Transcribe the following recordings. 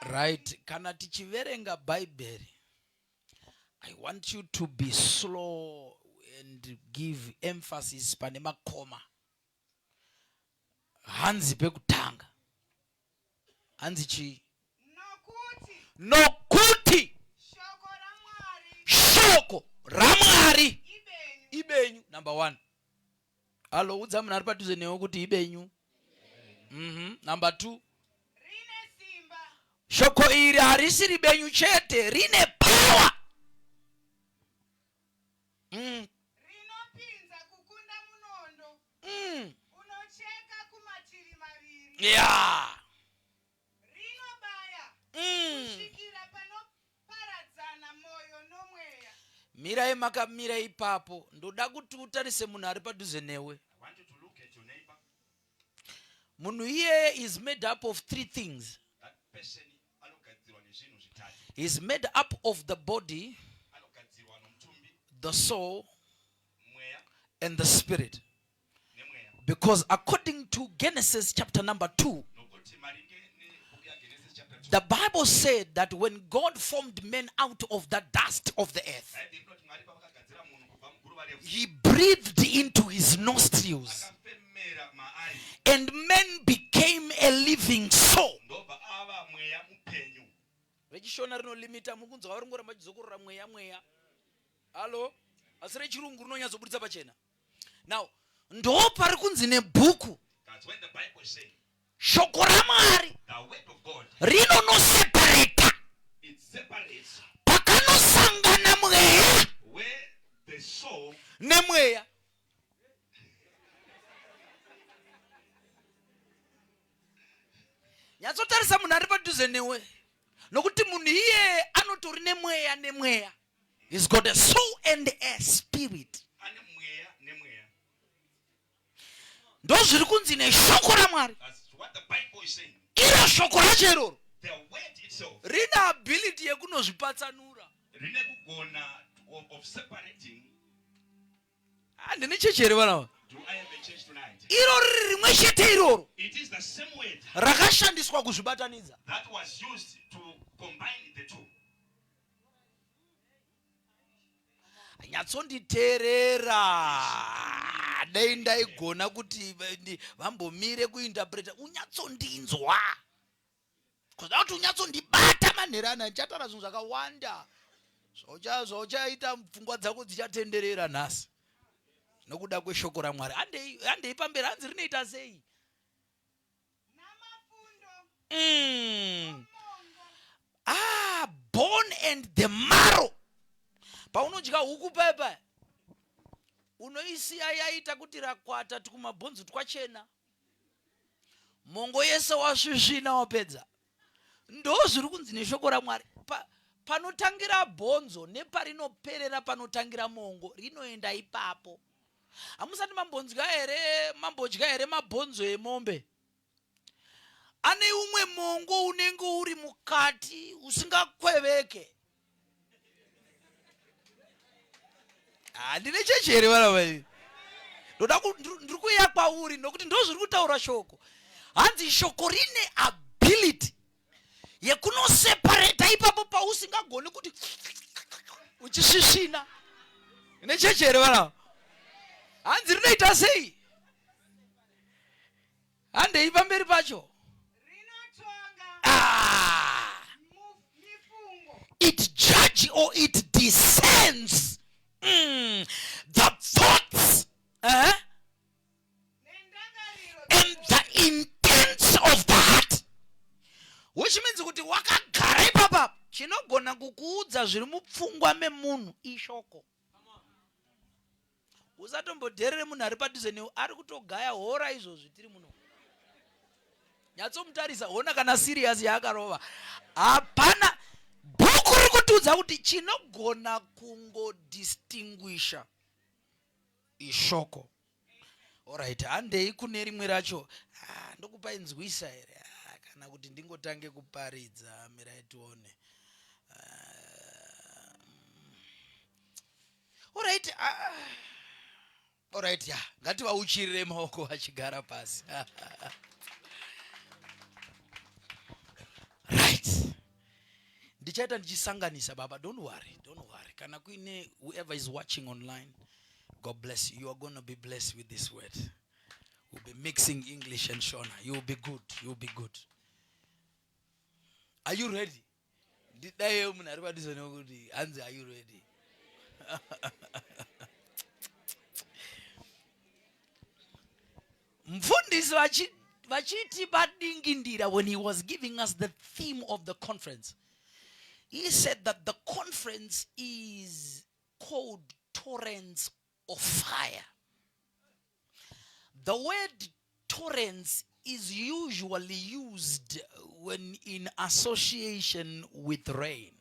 right kana tichiverenga bhaibheri i want you to be slow and give emphasis pane makoma hanzi pekutanga hanzi chii nokuti shoko ramwari ibenyu number one Alo, udza munhu ari padhuze newe kuti ibenyu. Mm -hmm. Number two. Shoko iri harisi ribenyu chete, rine power. Mm. Rinopinza kukunda munondo. Mm. Unocheka kumativi maviri. Yeah. mirai makamira ipapo ndoda kuti utarise munhu ari padhuze newe munhu iyeye is made up of three things is made up of the body the soul and the spirit Because according to Genesis chapter number 2, the Bible said that when God formed men out of the dust of the earth, He breathed into his nostrils, and men became a living soul. rechishona rinolimita muri kunzwa vari ngoramba chizokorora mweya mweya halo asi rechirungu rinonyatsoburitsa pachena now ndo pari kunzi nebhuku shoko ramwari rinonosepareta pakanosangana mweya nemweya nyatsotarisa munhu ari padhuze newe nokuti munhu iye anotori nemweya nemweya He's got a soul and a spirit. Ndozviri kunzi neshoko raMwari. Iro shoko racho iroro. Rine ability yekunozvipatsanura. Rine kugona of separating. Handine ah, chechi here vana iro riri rimwe chete iroro rakashandiswa kuzvibatanidza nyatsonditeerera dai ndaigona kuti vambomire kuinterpreta unyatsondinzwa kuda kuti unyatsondibata manhera ana ndichatara zvinhu zvakawanda zvauchaita pfungwa dzako dzichatenderera nhasi nokuda kweshoko ramwari handei pamberi hanzi rinoita sei mm. ah, bone and the marrow paunodya huku paya paya unoisiya yaita kuti rakwata tikumabhonzo twachena mongo yese wasvisvina wapedza Ndozviri kunzi neshoko raMwari pa, panotangira bhonzo neparinoperera panotangira mongo, rinoenda ipapo. Hamusati mambonzwa here, mambodya here mabhonzo emombe? Ane umwe mongo unenge uri mukati usingakweveke. handine chechi here vana vaii ndoda ndiri kuuya kwauri nokuti ndo zviri kutaura shoko hanzi shoko rine ability yekunosepareta ipapo pausingagoni kuti uchisvisvina ine chechi here vana hanzi rinoita sei handei pamberi pacho ah. it judge or it descends mm. the thoughts uh eh? -huh. and the intents of the heart which means kuti wakagara ipapa chinogona kukuudza zviri mupfungwa memunhu ishoko usatombodherere munhu ari padhuze newe ari kutogaya hora izvozvi tiri muno nyatsomutarisa hona kana siriyasi yaakarova hapana bhuku riri kutiudza kuti chinogona kungodistinguisha ishoko orit handei kune rimwe racho ah, ndokupa inzwisa here ah, kana kuti ndingotange kuparidza mirai tione ah, Alright, ah. Alright, ya. Ngati vauchirire maoko vachigara pasi. right. Ndichaita ndichisanganisa baba, don't worry, don't worry. Kana kuine whoever is watching online, God bless you. You are going to be blessed with this word. We'll be mixing English and Shona. You'll be good. You'll be good. Are you ready? ndidaiwo munhu ari padhuze nekuti hanzi are you ready mfundisi vachiti padingindira when he was giving us the theme of the conference he said that the conference is called torrents of fire. The word torrents is usually used when in association with rain.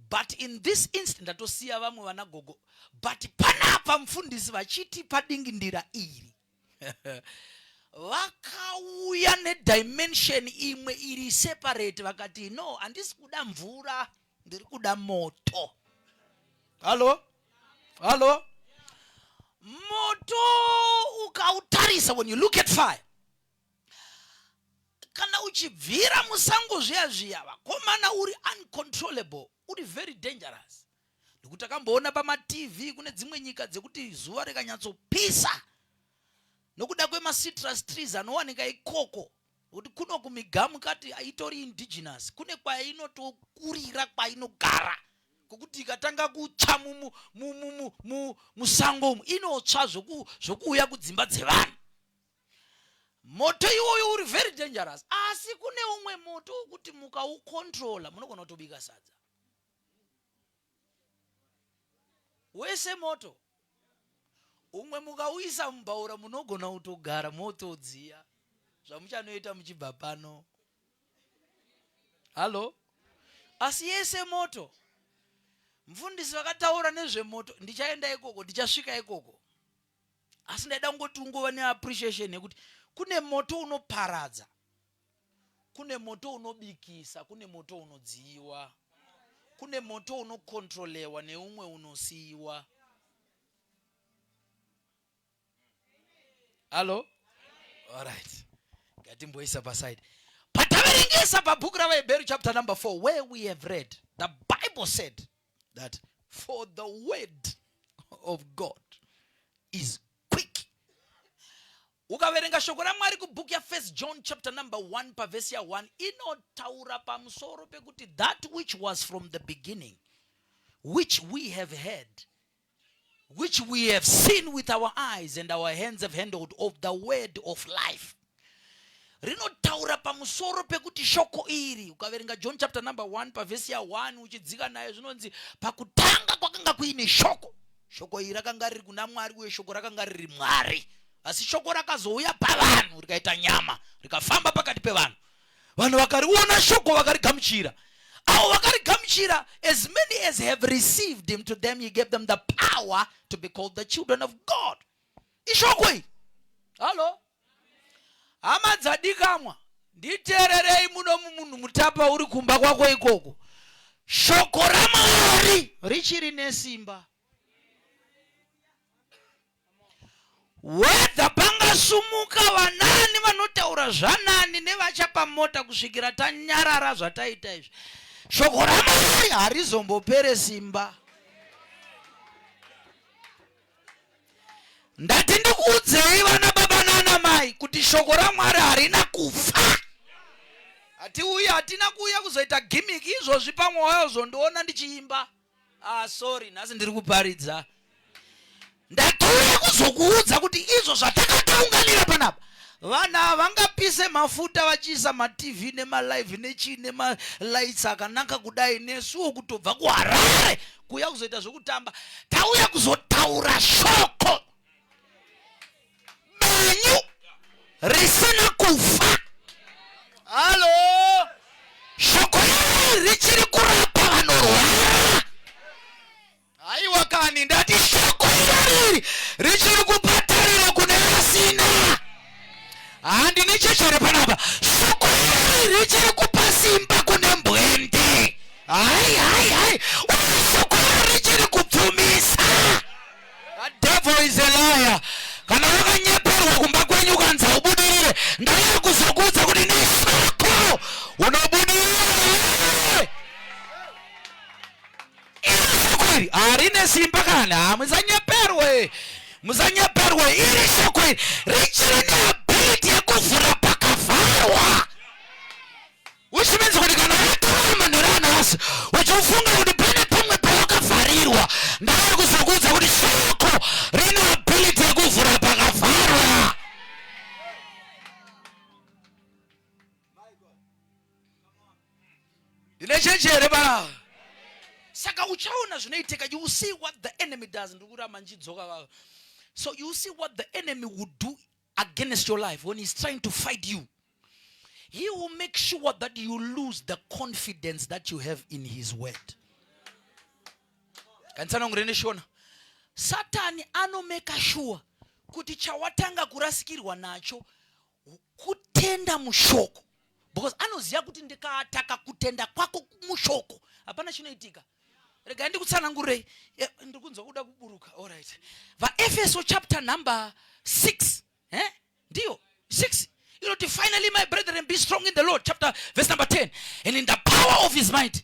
But in this instant atosiya vamwe vana gogo but panapa mfundisi vachiti padingindira iri vakauya nedimension imwe iri separate vakati no handisi kuda mvura ndiri kuda moto halo halo moto ukautarisa when you look at fire kana uchibvira musango zviya zviya vakomana uri uncontrollable uri very dangerous nekuti takamboona pamatv kune dzimwe nyika dzekuti zuva rikanyatsopisa nokuda kwemasitrus trees anowanika ikoko kuti kuno kumigamu kati itori indigenous kune kwainotokurira kwainogara kwekuti ikatanga kutsva musango umu inotsva zvokuuya kudzimba dzevanhu moto iwoyo uri very dangerous asi kune umwe moto wokuti mukaukontrola munogona kutobika sadza wese moto umwe mukauisa mubhaura munogona kutogara moto udziya zvamuchanoita muchibva pano hallo asi yese moto mfundisi vakataura nezvemoto ndichaenda ikoko ndichasvika ikoko asi ndaida kungoti ungova neappreciation yekuti kune moto unoparadza Kune moto unobikisa, kune moto unodziiwa, kune moto unokontrolewa neumwe unosiiwa. Halo? Alright. Ngatimboisa paside. Pataverengesa pabhuku ravaHebheru chapter number 4 where we have read the Bible said that for the word of God is quick ukaverenga shoko ramwari kubook yafirst john chapter number 1 pavhesi ya1 inotaura pamusoro pekuti that which was from the beginning which we have heard which we have seen with our eyes and our hands have handled of the word of life rinotaura pamusoro pekuti shoko iri ukaverenga john chapter number 1 pavhesi ya1 uchidzika nayo zvinonzi pakutanga kwakanga kuine shoko shoko iri rakanga riri kuna mwari uye shoko rakanga riri mwari asi shoko rakazouya pavanhu rikaita nyama rikafamba pakati pevanhu vanhu vakariona shoko vakarigamuchira avo vakarigamuchira as many as have received him to them he gave them the power to be called the children of god ishoko iri hallo hama dzadikamwa nditeererei muno mumunhu mutapa uri kumba kwako ikoko shoko ramwari richiri nesimba wedha pangasumuka vanani vanotaura zvanani nevachapa mota kusvikira tanyarara zvataita izvi shoko ramwari harizombopere simba ndati ndikuudzei vana baba nana mai kuti shoko ramwari harina kufa hatiuyi hatina kuuya kuzoita gimmick izvozvi pamwoyo zvondiona ndichiimba ah sorry nhasi ndiri kuparidza ndatiuya kuzokuudza kuti izvo zvatakataunganira panapa vana havangapise mafuta vachiisa matv nemalive nechii nemalights akanaka kudai nesuwo kutobva kuharare kuuya kuzoita zvekutamba tauya kuzotaura shoko benyu risina kufa halo shoko rei richiri kurapa vanorwara haiwa kani ndati shoko iroriri richiri kupa handi nechechere panapa shoko iri richiri kupa simba kune mbwende hai hai hai uye shoko iri richiri kubvumisa devil is a liar kana wakanyeperwa kumba kwenyu ukanzi haubudirire ndauya kuzokuudza kuti neshoko unobudirira iri shoko iri harine simba kana haa musanyeperwe musanyeperwe iri shoko iri richiri neability yekuvhura pakavharwa uchimenzi kuti kana wataura manhero anhasi uchifunga kuti pane pamwe pawakavharirwa ndava kuzokuudza kuti shoko rine ability yekuvhura pakavharwa ndine chechi here pa saka uchaona zvinoitika you see what the enemy does ndiri kuramba ndichidzoka vava so you see what the enemy would do against your life when he's trying to fight you he will make sure that you lose the confidence that you have in his word kandisanongurendeshona satani anomeka shuwa kuti chawatanga kurasikirwa nacho kutenda mushoko because anoziva kuti ndikataka kutenda kwako mushoko hapana chinoitika regai ndikutsanangurei eh, ndiri kunzwa kuda kuburuka allright vaefeso chapter number 6 eh? ndiyo 6 inoti finally my brethren be strong in the lord chapter verse number 10 and in the power of his might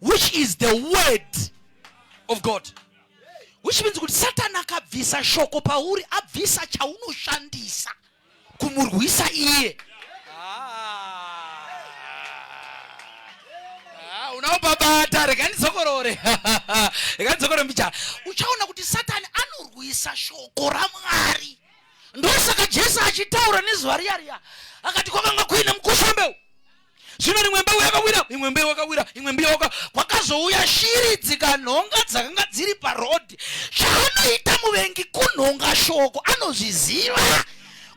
which is the word of god which means kuti satani akabvisa shoko pauri abvisa chaunoshandisa kumurwisa iye ah. Ah, unaobabata rega ndidzokorore rega ndidzokorore mbichana uchaona kuti satani anorwisa shoko ramwari ndosaka jesu achitaura nezuva riya riya akati kwakanga kuine mukushambeu zvino rimwe mbeu yakawira imwe mbeu yakawira imwe mbeu yaka kwakazouya shiri dzikanhonga dzakanga dziri parodhi chaanoita muvengi kunhonga shoko anozviziva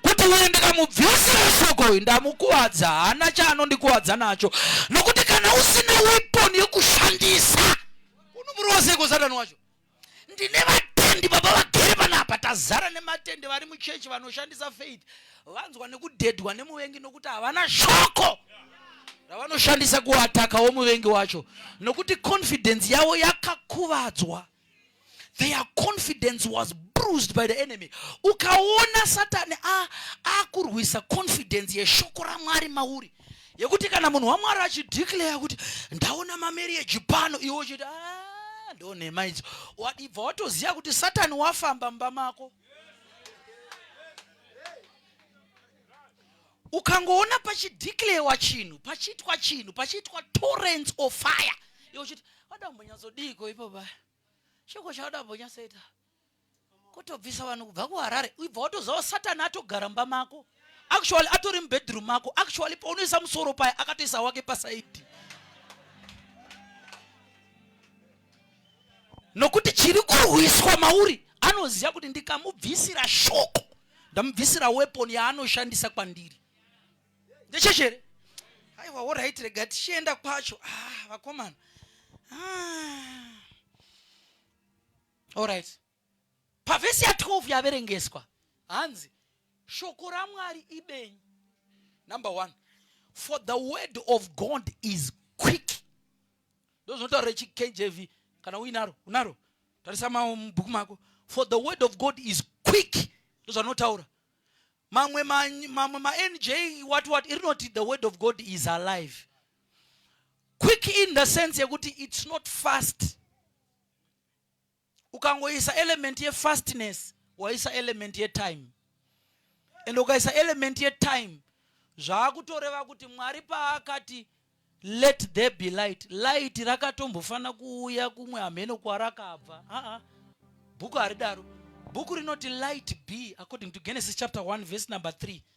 kuti uyu ndikamubvisira shoko uyu ndamukuvadza haana chaanondikuvadza nacho nokuti kana usina weponi yekushandisa unomurova seiko satani wacho ndine vatendi baba vagere panapa tazara nematende vari muchechi vanoshandisa faith vanzwa nekudhedhwa nemuvengi nokuti havana shoko ravanoshandisa kuatakawo muvengi wacho nokuti confidence yavo yakakuvadzwa their confidence was bruised by the enemy ukaona satani akurwisa confidence yeshoko ramwari mauri yekuti kana munhu wamwari achideclare kuti ndaona mamarriage pano iwe uchiti ah, ndo nhema idzo wadibva watoziva kuti satani wafamba mumba mako ukangoona pachideclarewa chinhu pachiitwa chinhu pachiitwa torrents of fire iwe uchiti wada kumbonyatsodiiko ipo paya chiko chawada kumbonyatsoita kotobvisa vanhu kubva kuharare uibva watozawo satani atogara mba mako actually atori mubedroom mako actually paunoisa musoro paya akatoisa wake pasaidi nokuti chiri kurwiswa mauri anoziva kuti ndikamubvisira shoko ndamubvisira weapon yaanoshandisa kwandiri ndechechere aiwa orit rega tichienda kwacho ah, vakomana ah. Alright. Pavhesi ya 12 yaverengeswa hanzi shoko raMwari ibenyu. Number one, for the word of God is quick. Ndozvinotaura chiKJV kana uinaro unaro tarisa mabhuku mako for the word of God is quick ndozvanotaura mamwe mamwe manj what what iri noti the word of God is alive quick in the sense yekuti it's not fast ukangoisa element yefastness waisa element yetime and ukaisa element yetime zvaakutoreva kuti mwari paakati let there be light light rakatombofanira kuuya kumwe hameno kwarakabva aa bhuku haridaro bhuku rinoti light be according to genesis chapter 1 verse number 3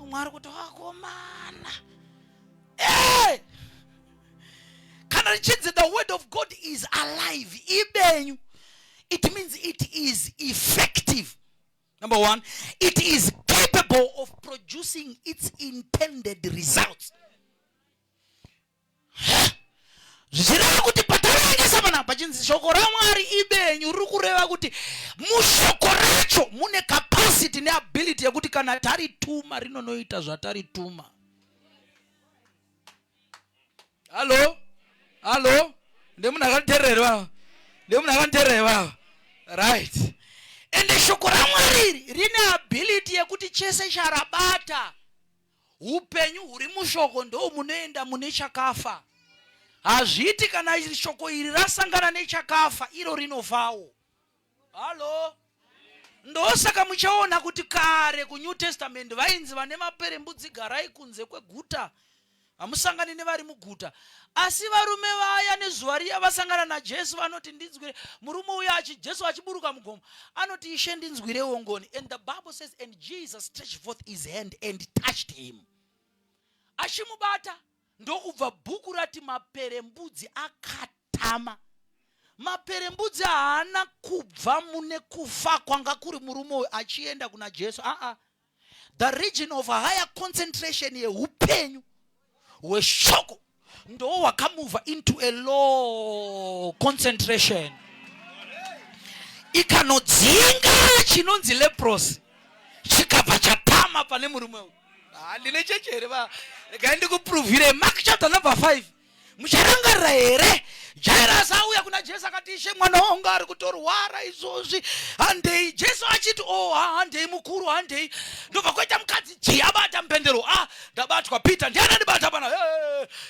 umwe ari kuti wakomana hey! kana richinzi the word of god is alive ibenyu it means it is effective number one it is capable of producing its intended results zvichireva kuti pataverengesa panapa pachinzi shoko ramwari ibenyu riri kureva kuti mushoko racho mune capacity neability yekuti kana tarituma rinonoita zvatarituma hallo hallo ndemunhu akanditerirewa ndemunhu akanditerirewa right ende shoko ramwari iri rine ability yekuti chese charabata Upenyu huri mushoko ndo munoenda mune chakafa. Hazviti kana iri shoko iri rasangana nechakafa iro rinofawo. Halo. Ndosaka muchaona kuti kare kuNew Testament vainzi vane maperembudzi garai kunze kweguta. Hamusangani nevari muguta. Asi varume vaya nezuva riya vasangana naJesu vanoti ndinzwire murume uya achi Jesu achiburuka mugomo anoti ishe ndinzwirewo ngoni and the bible says and Jesus stretched forth his hand and touched him achimubata ndokubva bhuku rati maperembudzi akatama maperembudzi haana kubva mune kufa kwanga kuri murume uyu achienda kuna Jesu aa ah, ah. the region of higher concentration yeupenyu hweshoko ndoo wakamuvha into a low concentration ikanodzinga chinonzi leprosi chikabva chatama pane murume uyu handine ah, chechi here va regai ndikupruvhire mark chapter number 5 mucharangarira here jairasi auya kuna jesu akati ishe mwana wangu ari kutorwara izvozvi handei jesu achiti o oh, handei mukuru handei ndobva kwaita mukadzi ji abata mupendero a ah, ndabatwa peter ndianandibata pana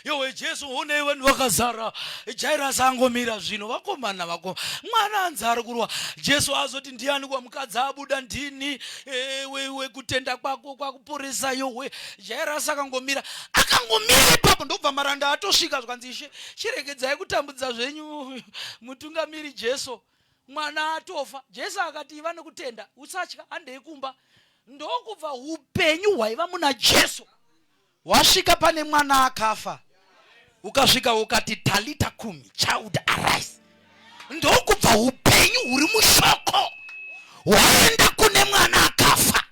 yowe jesu honei vanhu vakazara jairasi angomira zvino vakomana vako mwana anzi ari kurwa jesu azoti ndiani kwa mukadzi abuda ndini ewe iwe kutenda kwako kwakuporesa yowe jairasi akangomira akangomira ipapo ndokubva maranda atosvika zvikanzi ishe chiregedzai kutambudza zvenyu mutungamiri jesu mwana atofa jesu akati iva nekutenda usatya handei kumba ndokubva upenyu hwaiva muna jesu hwasvika pane mwana akafa ukasvika ukati talita kumi child arise ndokubva upenyu huri mushoko hwaenda kune mwana akafa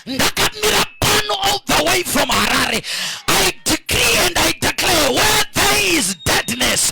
ndakamira pano all the way from harare i decree and i declare where there is deadness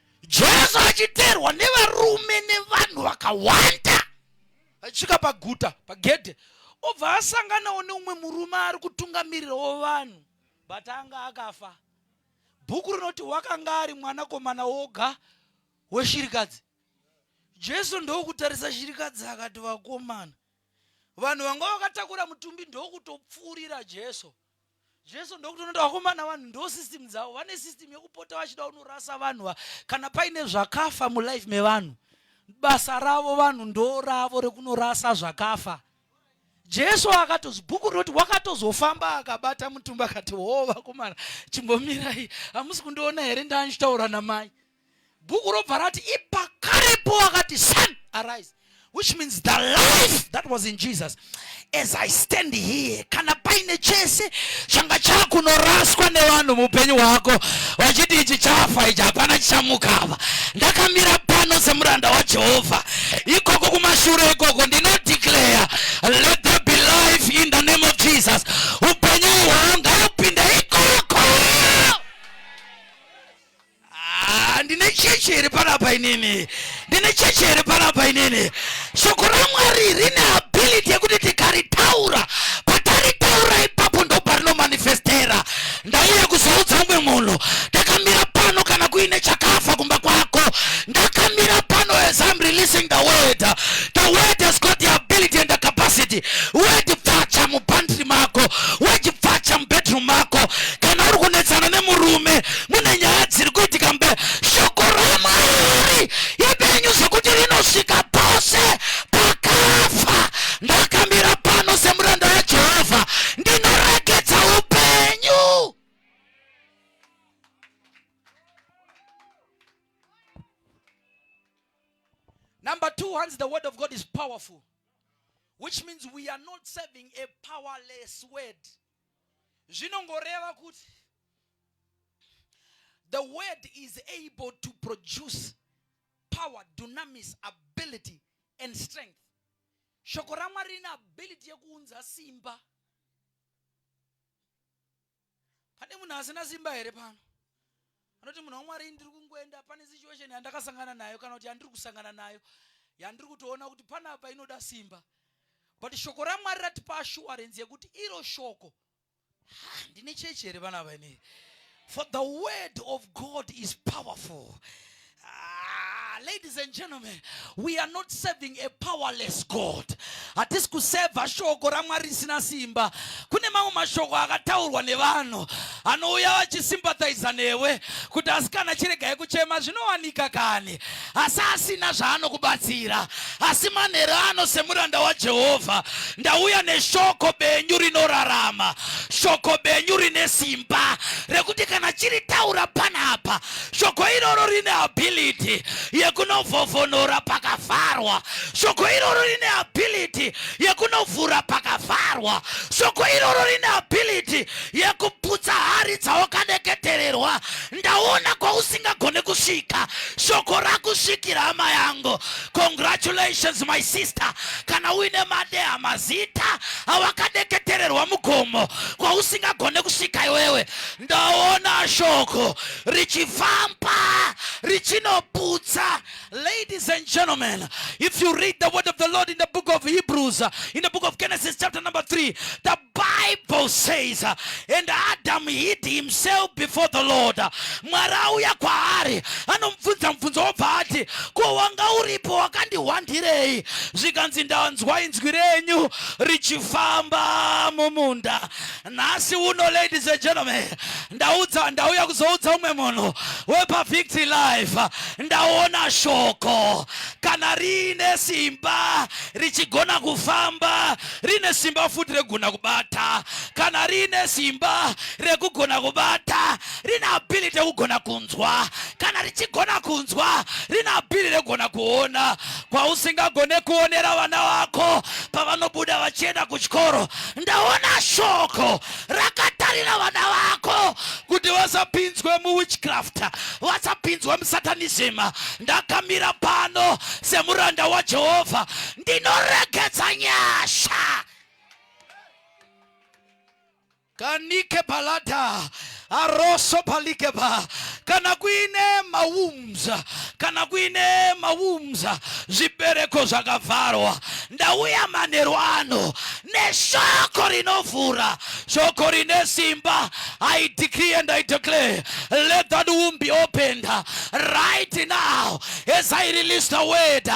jesu achiteerwa nevarume nevanhu vakawanda achisvika paguta pagedhe obva asanganawo neumwe murume ari kutungamirirawo vanhu but anga akafa bhuku rinoti wakanga ari mwanakomana woga weshirikadzi jesu ndokutarisa shirikadzi akati vakomana vanhu vanga vakatakura mutumbi ndokutopfuurira jesu jesu ndokutonoita vakomana vanhu ndo system dzavo vane system yekupota vachida unorasa vanhu va kana paine zvakafa mulife mevanhu basa ravo vanhu ndo ravo rekunorasa zvakafa jesu akatozi bhuku rinoti wakatozofamba akabata mutumba akati hoo vakomana chimbomirai hamusi kundiona here ndanchitaura namai bhuku robva rati ipakarepo akati son arise which means the life that was in jesus as i stand here kana paine chese changa chakunoraswa nevanhu muupenyu hwako vachiti ichi chafa ichi hapana chichamukava ndakamira pano semuranda wajehovha ikoko kumashure ikoko ndinodeclare let there be life in the name of jesus upenyu hwanga Ah, ndine chechi here panapa inini ndine chechi here panapa inini shoko ramwari rine ability yekuti tikaritaura pataritaura ipapo ndobva rinomanifestera ndauya kuzoudza umwe munhu ndakamira pano kana kuine chakafa kumba kwako ndakamira pano as im releasing the word the word has got the ability and the capacity word pfacha mupantry mako word pfacha mubedroom mako kana uri kunetsana nemurume mune nyaya dziri kuitika mbe shoko ramwari ipenyu zvekuti rinosvika pose pakafa ndakamira pano semuranda wajehovha ndinoregedza upenyu number two hanzi the word of god is powerful which means we are not serving a powerless word zvinongoreva kuti the word is able to produce power dunamis ability and strength shoko ramwari rine ability yekuunza simba pane munhu asina simba here pano anoti munhu wamwari ini ndiri kungoenda pane situation yandakasangana nayo kana kuti yandiri kusangana nayo yandiri kutoona kuti panapa inoda simba but shoko ramwari ratipa assurance yekuti iro shoko handine chechi here vana vainei for the word of god is powerful Ah, ladies and gentlemen, we are not serving a powerless God. Hatisi kuseva shoko raMwari risina simba. Kune mamwe mashoko akataurwa nevanhu anouya vachisympathiza newe kuti asikana chiregai kuchema zvinowanika kani, asi asina zvaanokubatsira. Asi manheru ano semuranda waJehovha ndauya neshoko benyu rinorarama, shoko benyu rine simba rekuti kana chiritaura panapa shoko iroro rine ability yekunovhovhonora pakavharwa shoko iroro rine ability yekunovhura pakavharwa shoko iroro rine ability yekuputsa hari dzawakadeketererwa ndaona kwausingagone kusvika shoko rakusvikira hama yangu congratulations my sister kana uine madeha mazita awakadeketererwa mugomo kwausingagone kusvika iwewe ndaona shoko richifamba richinoputsa ladies and gentlemen if you read the word of the lord in the book of hebrews in the book of genesis chapter number 3 the bible says and adam hid himself before the lord mwari auya kwaari anomubvunza mubvunzo wobva ati ko wanga uripo wakandihwandirei zvikanzi ndanzwa inzwi renyu richifamba mumunda nhasi uno ladies and gentlemen ndaudza ndauya kuzoudza umwe munhu wepavictory life ndaona shoko kana riine simba richigona kufamba rine simba futi rekugona kubata kana riine simba rekugona kubata rine ability rekugona kunzwa kana richigona kunzwa rine ability rekugona kuona kwausingagone kuonera vana vako pavanobuda vachienda kuchikoro ndaona shoko rakatarira vana vako kuti vasapinzwe muwitchcraft vasapinzwe musatanism ndakamira pano semuranda wajehovha ndinoregedza nyasha kanike palata aroso palikeba kana kuine maumza kana kuine maumza zvibereko zvakavharwa ndauya manheru ano neshoko rinovhura shoko rine simba i decree and i declare let that womb be opened right now as i release the word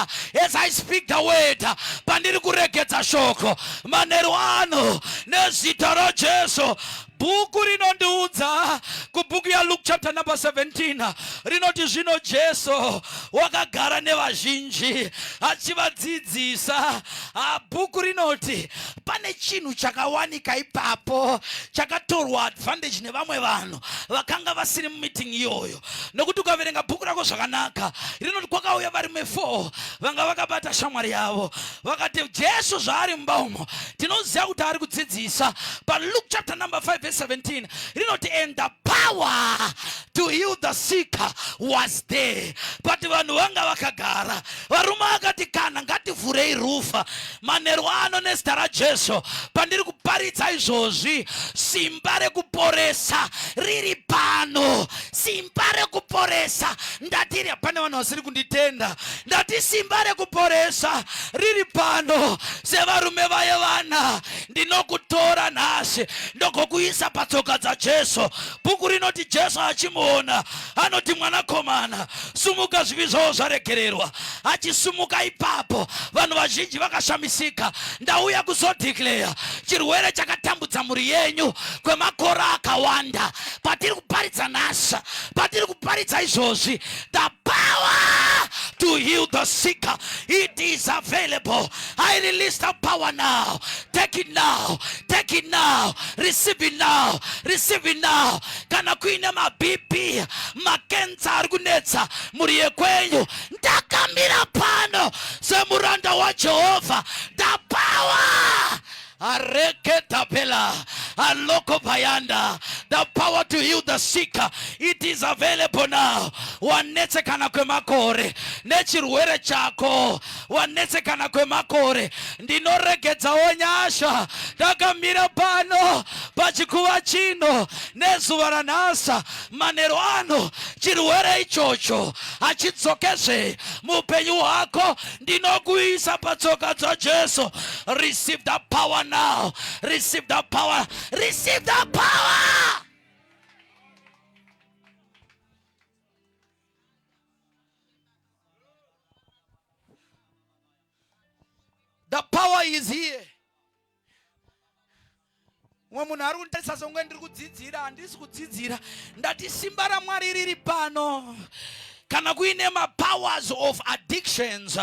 as i speak the word pandiri kuregedza shoko manheru ano nezita rajesu bhuku rinondiudza kubhuku yaluke chapter number 17 rinoti zvino jesu wakagara nevazhinji achivadzidzisa ah, bhuku rinoti pane chinhu chakawanika ipapo chakatorwa advantage nevamwe vanhu vakanga vasiri mumiting iyoyo nokuti ukaverenga bhuku rako zvakanaka rinoti kwakauya varume four vanga vakabata shamwari yavo vakati jesu zvaari mumba umo tinoziva kuti ari kudzidzisa paluke chapter number 5 verse 17 rinoti and the power to heal the sick was there but vanhu vanga vakagara varume vakati kana ngativhurei rufa manheru ano nezita rajesu pandiri kuparidza izvozvi simba rekuporesa riri pano simba rekuporesa ndatiri pane vanhu vasiri kunditenda ndati simba rekuporesa riri pano sevarume vaye vana ndinokutora nhasi ndogokuisa patsoka dzajesu bhuku rinoti jesu achimuona anoti mwanakomana sumuka zvivi zvavo zvaregererwa achisumuka ipapo vanhu vazhinji vakashamisika ndauya kuzodeclare chirwere chakatambudza mhuri yenyu kwemakore akawanda patiri kuparidza nhasa patiri kuparidza izvozvi the power to heal the sick it is available i release the power now take it now take it now receive it now receive it now kana kuine mabp makensa ari kunetsa mhuri yekwenyu ndakamira pano semuranda wajehovha ndapawa areketapela aloko payanda the power to heal the sick it is available now wanetsekana kwemakore nechirwere chako wanetsekana kwemakore ndinoregedzawo nyasha ndakamira pano pachikuva chino nezuva ranhasa manhero ano chirwere ichocho hachidzokezve muupenyu hwako ndinokuisa patsoka dzajesu receive the power now receive the power receive the power The power is here. Mwe munhu ari kunditarisa songe ndiri kudzidzira, handisi kudzidzira. Ndati simba raMwari riri pano. kana kuine mapowers of addictions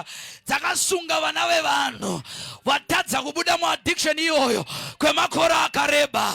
dzakasunga vana vevanhu vatadza kubuda muaddiction iyoyo kwemakore akareba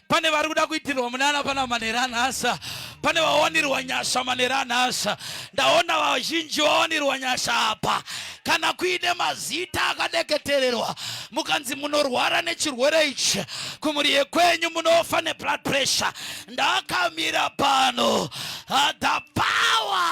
pane vari kuda kuitirwa munana pana manera nhasa pane vawanirwa nyasha manera nhasa ndaona vazhinji vawanirwa nyasha apa kana kuine mazita akadeketererwa mukanzi munorwara nechirwere ichi kumuri yekwenyu munofa neblood pressure ndakamira pano the power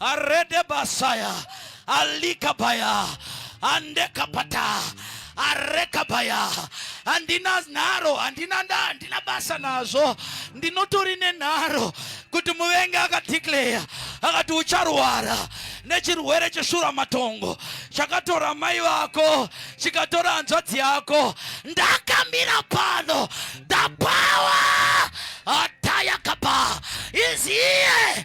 arede basaya alikabaya andekapata arekabaya handina nharo handina nda handina basa nazvo ndinotori nenharo kuti muvengi akadeclare akati ucharwara nechirwere cheshura matongo chakatora mai vako chikatora hanzvadzi yako ndakamira pano the power atayakapa is here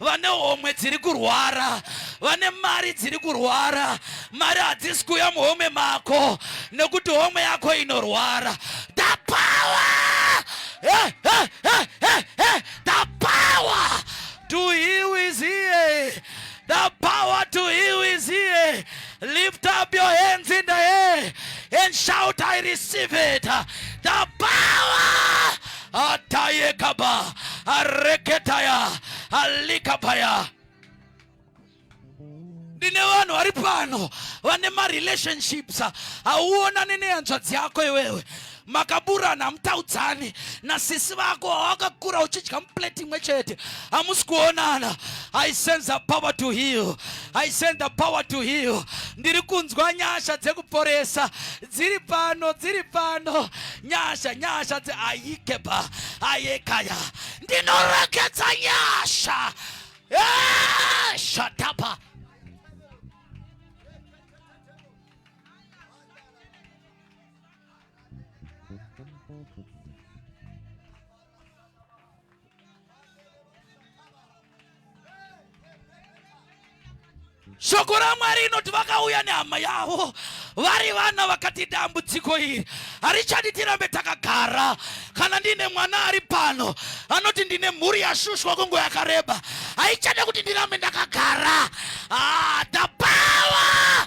vane homwe dziri kurwara vane mari dziri kurwara mari hadzisi kuuya muhome mako nekuti homwe yako inorwara the power hey, hey, hey, hey, hey. the power to heal is here the power to heal is here Lift up your hands in the air and shout, I receive it. The power. Atayekaba. Areketaya. Alikabaya. ndine vanhu vari pano vane marelationships hauonani nehanzvadzi yako iwewe makaburana hamutaudzani nasisi vako wawakakura uchidya muplate imwe chete hamusi kuonana i send the power to heal i send the power to heal ndiri kunzwa nyasha dzekuporesa dziri pano dziri pano nyasha nyasha dzeayikeba ayekaya ndinorekedza nyasha eh, shatapa Shoko la Mwari inoti vakauya nehama yavo vari vana vakati dambudziko iri harichadi tirambe takagara kana ndine mwana ari pano anoti ndine mhuri yashushwa kungo yakareba haichada kuti ndirambe ndakagara ah, the power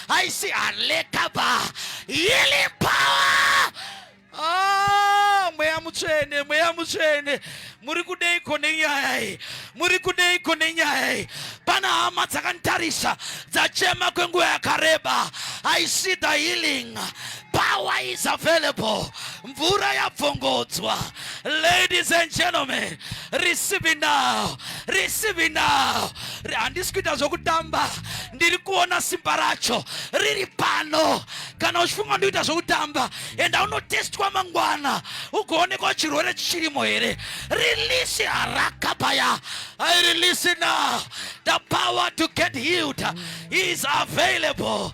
haisi halekaba healing power ah, mweya mutsvene mweya mutsvene muri kudeiko nenyaya iyi muri kudeiko nenyaya iyi pana hama dzakanditarisa dzachema kwenguva yakareba i see the healing Power is available. Mvura yabvongodzwa. Ladies and gentlemen, receive it now. Receive it now. Handisi kuita zvokutamba. Ndiri kuona simba racho riri pano. Kana uchifunga ndikuita zvokutamba, enda unotestwa mangwana ugoonekwa chirwere chichirimo here. Release harakabaya. I release it now. The power to get healed is available.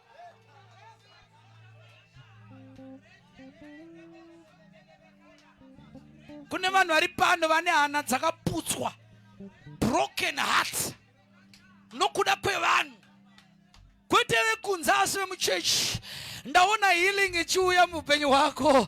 kune vanhu vari pano vane hana dzakaputswa broken heart nokuda kwevanhu kwete vekunze asi vemuchechi ndaona healing ichiuya muupenyu hwako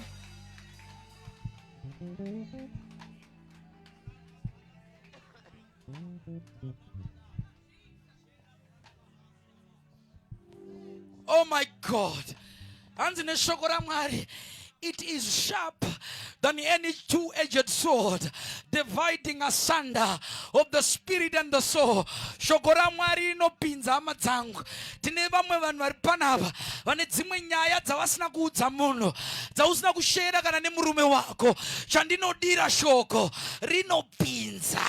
Oh my God. Hanzi neshoko ramwari it is sharp than any two edged sword, dividing asunder of the spirit and the soul. Shoko ramwari rinopinza hama dzangu tine vamwe vanhu vari panapa vane dzimwe nyaya dzavasina kuudza munhu dzausina kushera kana nemurume wako chandinodira shoko rinopinza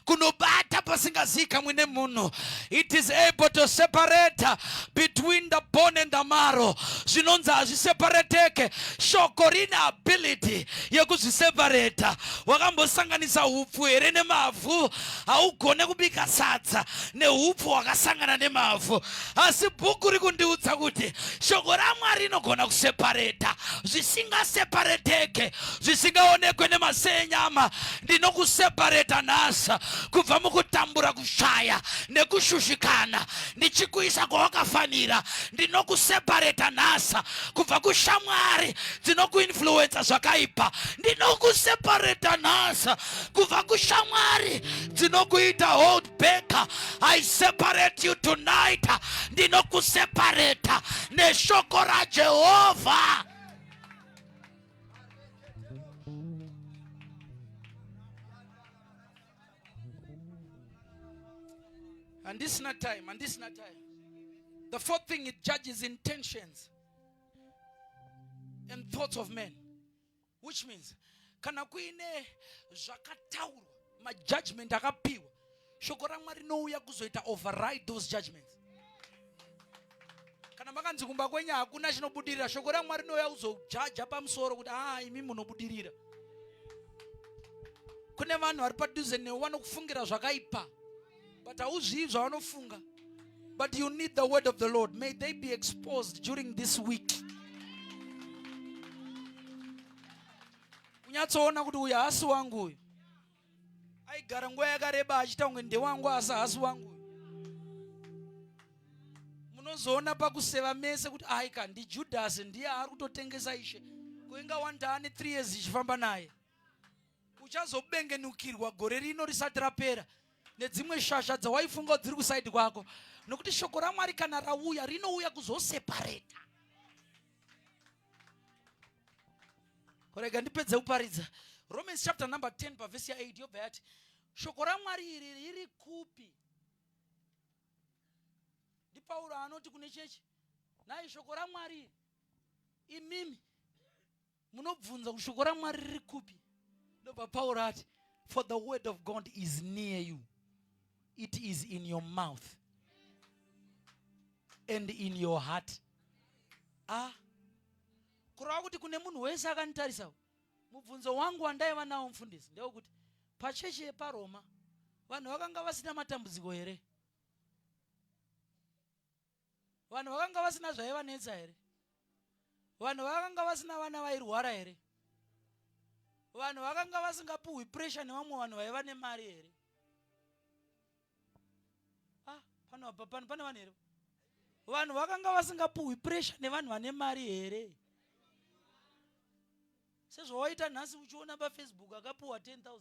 kunobata pasingazikamwe nemunhu it is able to separate between the bone and the marrow zvinonzi hazvisepareteke shoko rine ability yekuzvisepareta wakambosanganisa upfu here nemavhu haugone kubika sadza neupfu hwakasangana nemavhu asi bhuku rikundiudza kuti shoko ramwari rinogona kusepareta zvisingasepareteke zvisingaonekwe nemaso enyama ndinokusepareta nhasa kubva mukutambura kushaya nekushushikana ndichikuisa kwawakafanira ndinokusepareta nhasa kubva kushamwari dzinokuinfluensa zvakaipa ndinokusepareta nhasa kubva kushamwari dzinokuita hold back i separate you tonight ndinokuseparata neshoko rajehovha And this not time, and this not time. The fourth thing it judges intentions and thoughts of men. which means kana kuine zvakataurwa majudgment akapiwa shoko ramwari rinouya kuzoita override those judgments kana makanzi kumba kwenyu hakuna chinobudirira shoko ramwari rinouya kuzojaja pamusoro kuti aa ah, imi munobudirira kune vanhu vari padhuze newe vanokufungira zvakaipa but hauzvivi zvavanofunga but you need the word of the lord may they be exposed during this week kunyatsoona kuti uyu haasi wangu uyu aigara nguva yakareba achita kunge ndewangu asi haasi wangu uyu munozoona pakuseva mese kuti aika ndijudhasi ndiye ari kutotengesa ishe kuinga one taane three years ichifamba naye uchazobengenukirwa gore rino risati rapera nedzimwe shasha dzawaifunga dziri kusaidi kwako nokuti shoko ramwari kana rauya rinouya kuzosepareta rega ndipedze kuparidza romans chapter number 10 pavhesi ya 8 yobva yati shoko ramwari iri riri kupi ndipauro anoti kune chechi nai shoko ramwari imimi munobvunza kuti shoko ramwari riri kupi ndobva pauro ati for the word of god is near you it is in your mouth and in your heart ah kurava kuti kune munhu wese akanditarisa mubvunzo wangu wandaiva nawo mufundisi ndewekuti pachechi yeparoma vanhu vakanga vasina matambudziko here vanhu vakanga vasina zvaivanetsa here vanhu vakanga vasina vana vairwara here vanhu vakanga vasingapuhwi presha nevamwe vanhu vaiva nemari here ah, pano pane vanhu here vanhu vakanga vasingapuhwi presha nevanhu vane mari here sezvawaita nhasi uchiona pafacebook akapuhwa 10 000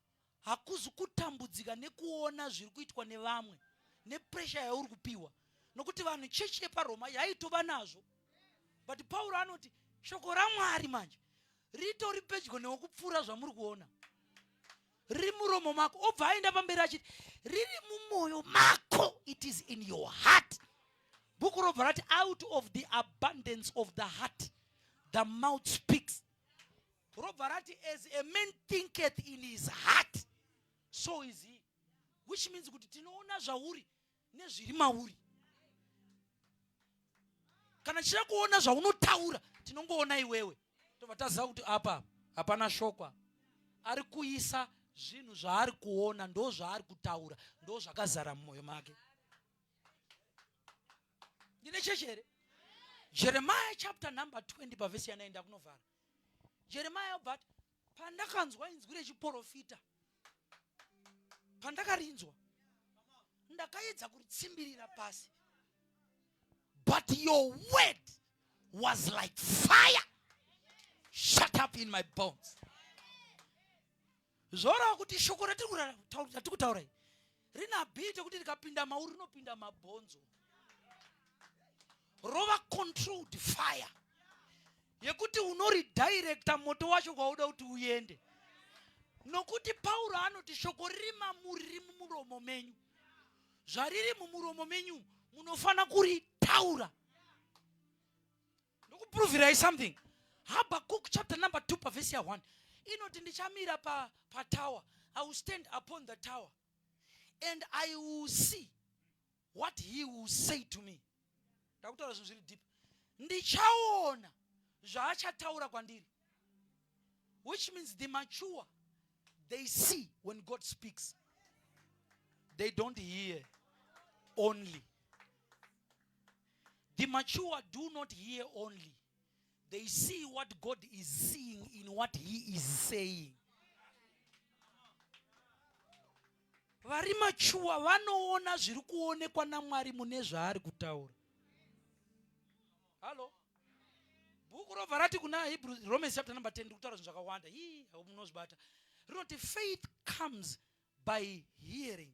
hakuzi kutambudzika nekuona zviri kuitwa nevamwe nepresha yauri kupiwa nokuti vanhu chechi yeparoma yaitova nazvo but pauro anoti shoko ramwari manje ritori pedyo newokupfuura zvamuri kuona riri muromo mako obva aenda pamberi achiti riri mumwoyo mako it is in your heart bhuku robva rati out of the abundance of the heart the mouth speaks robva rati as a man thinketh in his heart so is he which means kuti tinoona zvauri nezviri mauri kana tichida kuona zvaunotaura tinongoona iwewe tobva taziva kuti apa hapana shokwa ari kuisa zvinhu zvaari kuona ndo zvaari kutaura ndo zvakazara mumwoyo make ndine chechi here jeremiah chapter number 20 pavhesi yanaenda kunovhara jeremaya obva ati pandakanzwa inzwi rechiporofita pandakarinzwa ndakaedza kuritsimbirira pasi but your word was like fire shut up in my bones Zvoreva kuti shoko ratiri kutaura iri rina bhiti kuti rikapinda mauri rinopinda mabhonzo rova controlled fire yekuti unoridirecta moto wacho kwauda kuti uende nokuti pauro anoti shoko riri mamuri riri mumuromo menyu zvariri mumuromo menyu munofanira kuritaura ndokuprovirai something habakuk chapter number 2 pavhesi ya 1 inoti ndichamira pa, pa tower i will stand upon the tower and i will see what he will say to me ndakutaura zvinhu zviri deep ndichaona zvaachataura kwandiri which means the mature they see when god speaks they don't hear only The mature do not hear only. They see what God is seeing in what he is saying. Vari machuwa vanoona zviri kuonekwa naMwari mune zvaari kutaura. Halo. Bhuku robva rati kuna Hebrew Romans chapter number 10 kutaura zvinhu zvakawanda. Hii, munozvibata. Rinoti faith comes by hearing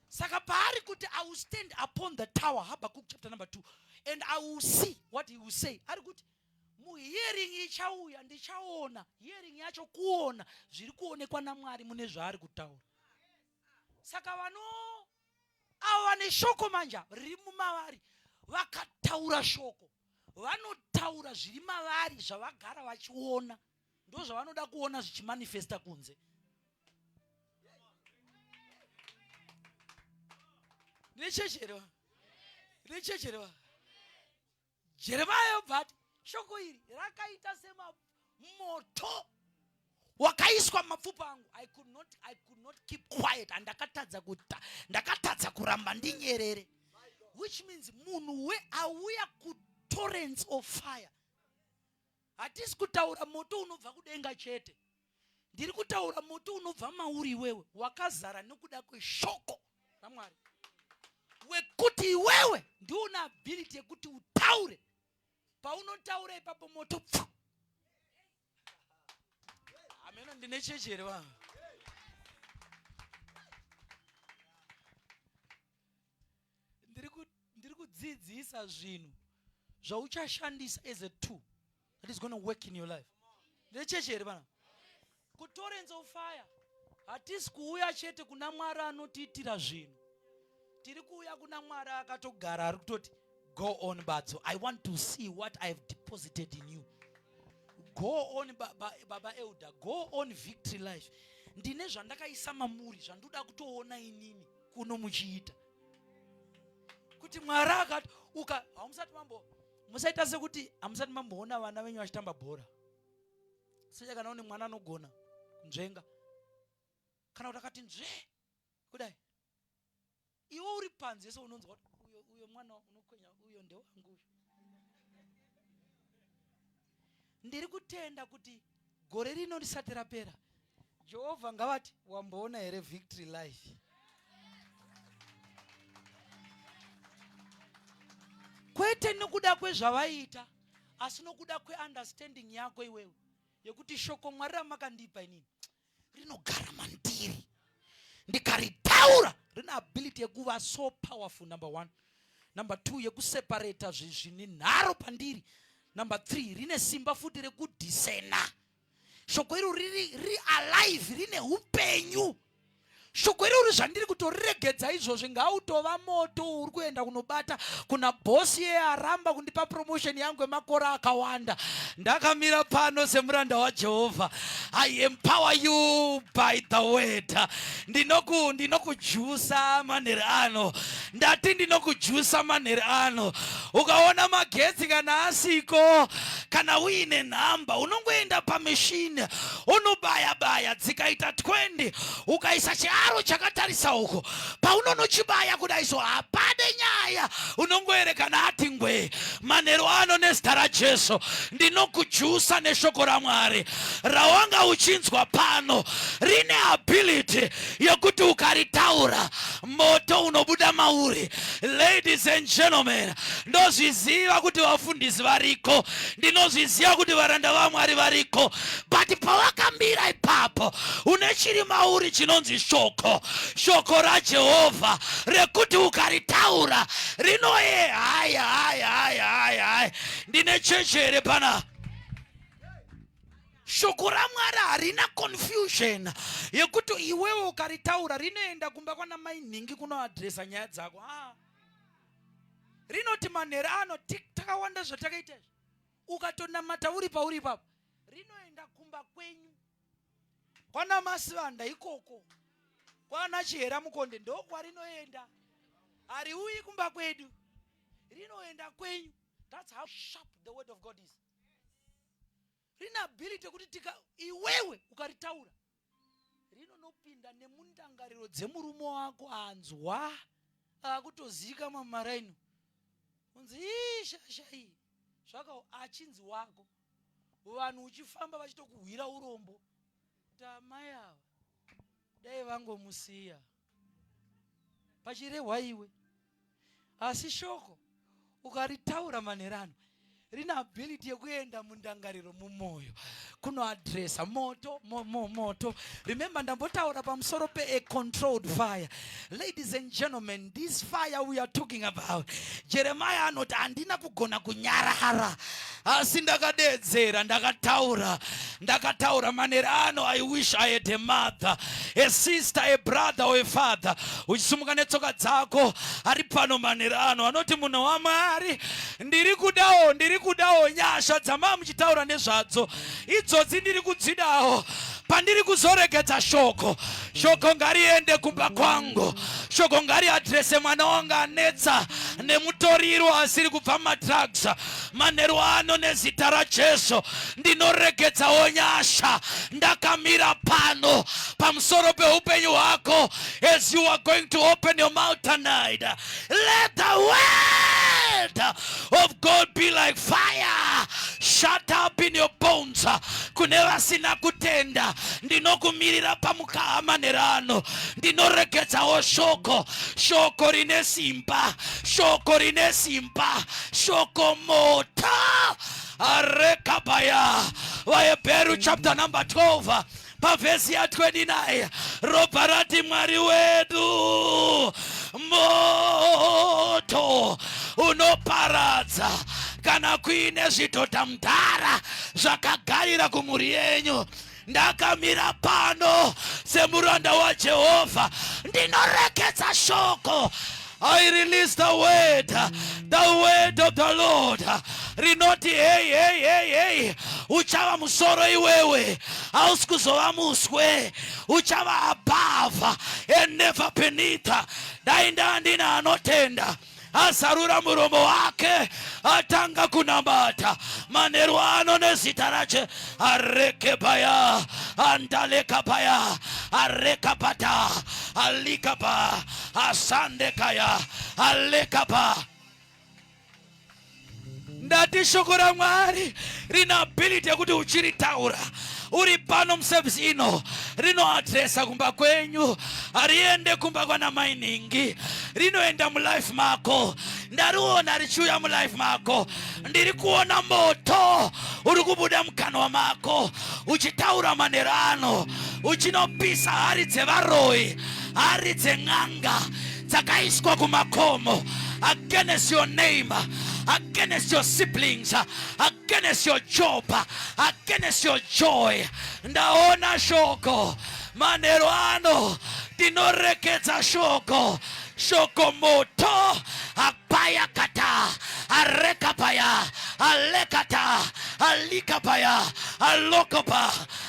saka paari kuti i will stand upon the tower habakkuk chapter number 2 and i will see what he will say ari kuti muhearing ichauya ndichaona hearing yacho kuona zviri kuonekwa namwari mune zvaari kutaura saka vano avo vane shoko manja riri mumavari vakataura shoko vanotaura zviri mavari zvavagara vachiona ndozvavanoda kuona zvichimanifesta kunze rechechi here va rechechi here va jeremaya yobva ati shoko iri rakaita semamoto wakaiswa mumapfupa angu i could not i could not keep quiet and ndakatadza kuta ndakatadza kuramba ndinyerere which means munhu we auya kutorrents of fire hatisi kutaura moto unobva kudenga chete ndiri kutaura moto unobva mauri iwewe wakazara nokuda kweshoko ramwari wekuti iwewe ndiuna ability yekuti utaure paunotaura ipapo moto pfu hameno ndine chechi here vanhu ndiri ku ndiri kudzidzisa zvinhu zvauchashandisa as a tool that is going to work in your life ndecheche here vana kutorence of fire hatisi kuuya chete kuna mwari anotiitira zvinhu tiri kuuya kuna mwari akatogara ari kutoti go on badzo i want to see what i have deposited in you go on baba, baba elder go on victory life ndine zvandakaisa mamuri zvandoda kutoona inini kuno muchiita kuti mwari akati uka hamusati mambo musaita sekuti hamusati mamboona vana venyu vachitamba bhora secha kana une mwana anogona kunzvenga kana kuti akati nzve kudai iwe uri panze so unonzwa kuti uyo mwana unokwenya uyo ndewangu uyo ndiri kutenda kuti gore rino risati rapera jehovha ngavati wamboona here victory life kwete nokuda kwezvavaiita asi nokuda kweunderstanding yako iwewe yekuti shoko mwari ramakandipa inini rinogara mandiri ndikaritaura rine ability yekuva so powerful number one number two yekuseparata zvine nharo pandiri number three rine simba futi rekudisena shoko iro riri ri alive rine upenyu shoko irori zvandiri kutoriregedza izvozvi ngautova moto uri kuenda kunobata kuna bosi yeye aramba kundipa promotion yangu yemakore akawanda ndakamira pano semuranda wajehovha i empower you by the word ndinoku ndinokujusa manheri ano ndati ndinokujusa manheri ano ukaona magetsi kana asiko kana uine nhamba unongoenda pamishini unobaya baya dzikaita 20 ukaisa chiaro chakatarisa uko paunonochibaya kudai so hapade nyaya unongoerekana ati ngwee manheru ano nezita rajesu ndinokujusa neshoko ramwari rawanga uchinzwa pano rine ability yekuti ukaritaura moto unobuda mauri ladies and gentlemen ndozviziva kuti vafundisi variko ndinozviziva kuti varanda vamwari variko but pawakamira ipapo une chiri mauri chinonzi shoko shoko rajehovha rekuti ukaritaura rinoye hai hai hai hai hai ndine cheche here panapa Shoko raMwari harina confusion yekuti iwewe ukaritaura rinoenda kumba kwana mai nhingi kunoadresa nyaya dzako ah. Rinoti manhero ano takawanda zvatakaita izvi ukatonamata uri pauri ipapo rinoenda kumba kwenyu kwana masivanda ikoko kwana chihera mukonde ndokwarinoenda hariuyi kumba kwedu rinoenda kwenyu that's how sharp the word of god is rine ability yekuti tika iwewe ukaritaura rinonopinda nemundangariro dzemurume wako anzwa akutozika mamaraino unzi ii shasha iyi zvaka achinzi wako vanhu uchifamba vachitokuhwira urombo kuti amai ava dai vangomusiya pachirehwa iwe asi shoko ukaritaura manhero ano rine ability yekuenda mundangariro mumwoyo kunoadresa moto mo, mo, moto remember ndambotaura pamusoro pe a controlled fire ladies and gentlemen this fire we are talking about jeremiah anoti handina kugona kunyarara asi ndakadeedzera ndakataura ndakataura manera ano i wish i had a mother a sister a brother or a father uchisimuka netsoka dzako ari pano manera ano anoti munhu wamwari ndiri kudawo ndiri kudawo nyasha dzamaa muchitaura nezvadzo idzodzi ndiri kudzidawo pandiri kuzoregedza shoko shoko ngariende kumba kwangu shoko ngariadrese mwana wanga anetsa nemutoriro asiri kubva madrugs manheru ano nezita rajesu ndinoregedzawo nyasha ndakamira pano pamusoro peupenyu hwako as you are going to open your mouth tonight let the word of god be like fire shut up in your bones kune vasina kutenda ndinokumirira pamukaha manheru ano ndinoregedzawo shoko shoko rine simba shoko rine simba shoko mota arekabaya vahebheru chapter number 12 pavhesi ya 29 ropa rati mwari wedu moto unoparadza kana kuine zvidhodha mudhara zvakagarira kumhuri yenyu ndakamira pano semuranda wajehovha ndinorekedza shoko I release the word, the word of the Lord. Rinoti hey hey hey hey, uchava musoro iwewe, hausi kuzova muswe, uchava above and never beneath. Dai ndandina anotenda. azarura muromo wake atanga kunamata manheru ano nezita rache areke paya andaleka paya areka pata alika pa asande kaya aleka pa ndati shoko ramwari rine ability yekuti uchiritaura uri pano muservice ino rinoadresa kumba kwenyu hariende kumba kwana mainhingi rinoenda mulife mako ndariona richiuya mulife mako ndiri kuona moto uri kubuda mukanwa mako uchitaura manhero ano uchinopisa hari dzevaroyi hari dzen'anga dzakaiswa kumakomo against your name against your siblings against your job against your joy ndaona shoko manhero ano ndinorekedza shoko shoko moto apaya kata arekapaya alekata alikapaya alokopa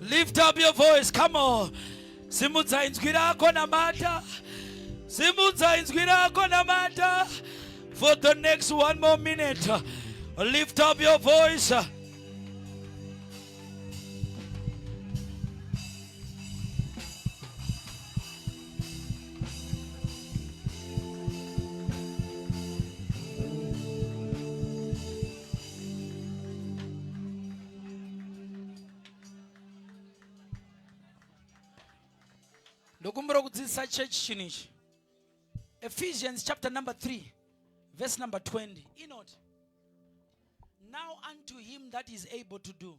Lift up your voice. Come on. Simudza inzwi rako namata. Simudza inzwi rako namata. For the next one more minute. Lift up your voice. ndokumbira kudzidzisa church chinhu ichi ephesians chapter number 3 verse number 20 inoti now unto him that is able to do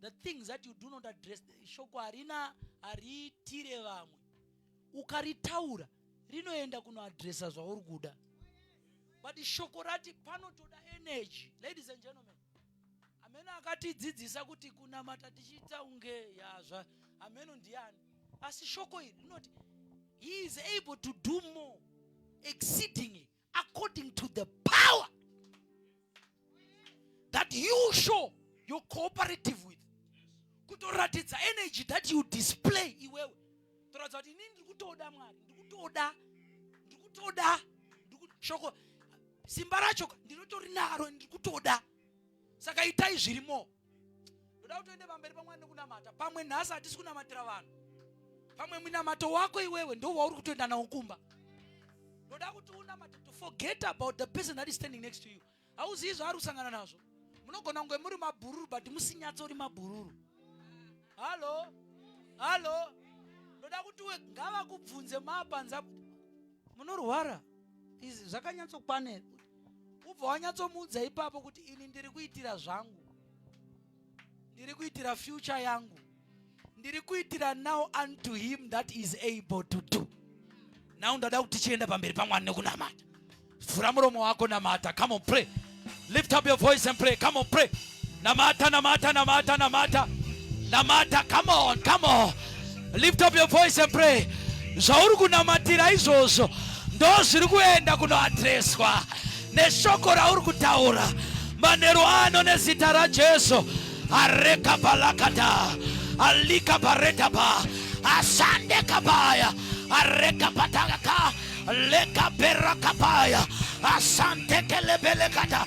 the things that you do not address shoko harina hariitire vamwe ukaritaura rinoenda kunoadresa zvauri kuda but shoko rati panotoda energy ladies and gentlemen ameno akatidzidzisa kuti kunamata tichiita unge yazva ameno ndiani asi shoko iri rinoti he is able to do more exceedingly according to the power that you show your cooperative with kutoratidza energy that you display iwewe toratidza kuti inini ndiri kutoda mwari ndiri kutoda ndiri kutoda shoko simba racho ndinotorinaro ndiri kutoda saka itai zvirimo ndoda kuti uende pamberi pamwari nekunamata pamwe nhasi hatisi kunamatira vanhu pamwe munamato wako iwewe ndo wauri kutoenda nawo kumba ndoda kuti unamate to forget about the person that is standing next to you hauzivi zvaari kusangana nazvo munogona kunge muri mabhururu but musinyatso uri mabhururu hallo hallo ndoda kuti we ngavakubvunze maapanza munorwara izvi zvakanyatsokwanera ubva wanyatsomuudza ipapo kuti ini ndiri kuitira zvangu ndiri kuitira future yangu ndiri kuitira now unto him that is able to do now ndada kuti tichienda pamberi pamwari nekunamata vhura muromo wako namata come on pray lift up your voice and pray come on pray Namata, namata, namata, namata. Namata, come on, come on. Lift up your voice and pray. Zvauri kunamatira izvozvo ndozviri kuenda kunoadreswa neshoko rauri kutaura manheru ano nezita rajesu areka balakata alika baretaba asande kabaya areka patakaka leka berakabaya asantekelebelekata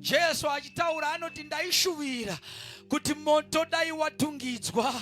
Jesu achitaura anoti ndaishuvira kuti moto dai watungidzwa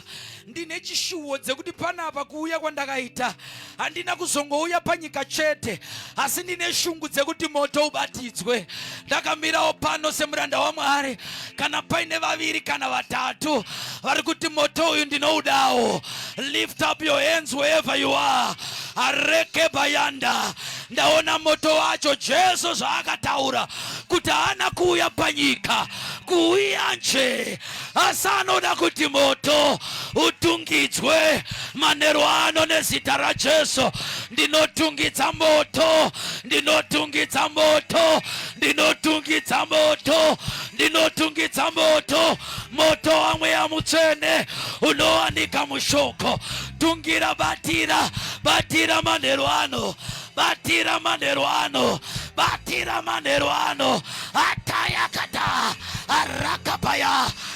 ndine chishuwo dzekuti panapa kuuya kwandakaita handina kuzongouya panyika chete asi ndine shungu dzekuti moto ubatidzwe ndakamirawo pano semuranda wamwari kana paine vaviri kana vatatu vari kuti moto uyu ndinoudawo lift up your hands wherever you are arekebayanda ndaona moto wacho jesu zvaakataura kuti haana kuuya panyika kuuya nje asi anoda kuti moto utungidzwe manero ano nezita rajesu ndinotungidza moto ndinotungidza moto ndinotungidza moto ndinotungidza moto moto wamweya mutsvene unowanika mushoko tungira batira batira manheru ano batira manheru ano batira manheru ano atayakata arakapaya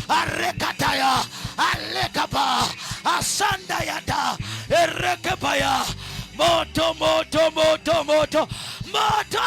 arekataya alekapa asandayata erekepaya moto moto moto moto moto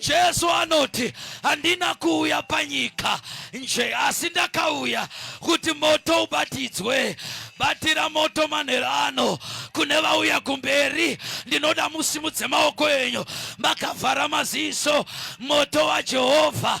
Jesu anoti handina kuuya panyika nje asi ndakauya kuti moto ubatidzwe. Batira moto manhero ano kune vauya kumberi. Ndinoda musimudze maoko enyu makavhara maziso. Moto waJehovha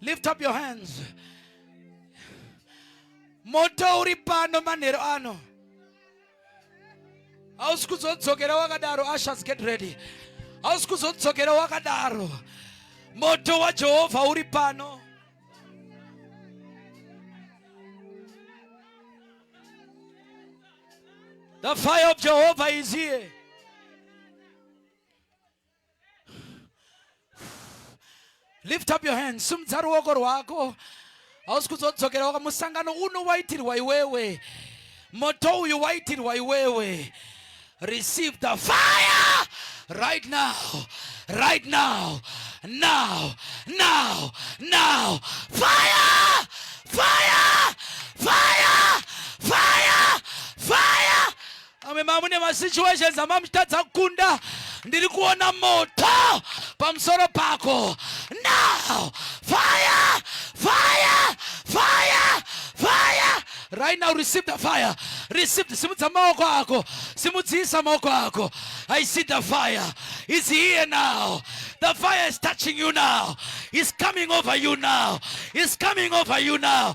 Lift up your hands. Moto uri pano manhero ano. Hausi kuzodzokera wakadaro. Ushers get ready. Hausi kuzodzokera wakadaro. Moto waJehovha uri pano. The fire of Jehovah is here. lift up your hands sumudza ruoko rwako hausi kuzodzokera waka musangano uno waitirwa iwewe moto uyu waitirwa iwewe receive the fire right now right now now now now fire fire fire fire fire Amwe mamune masituations amamutadza kukunda ndiri kuona moto pamusoro pako now fire fire fire fire right now receive the fire receive the simudza maoko ako simudzisa maoko ako i see the fire is here now the fire is touching you now is coming over you now is coming over you now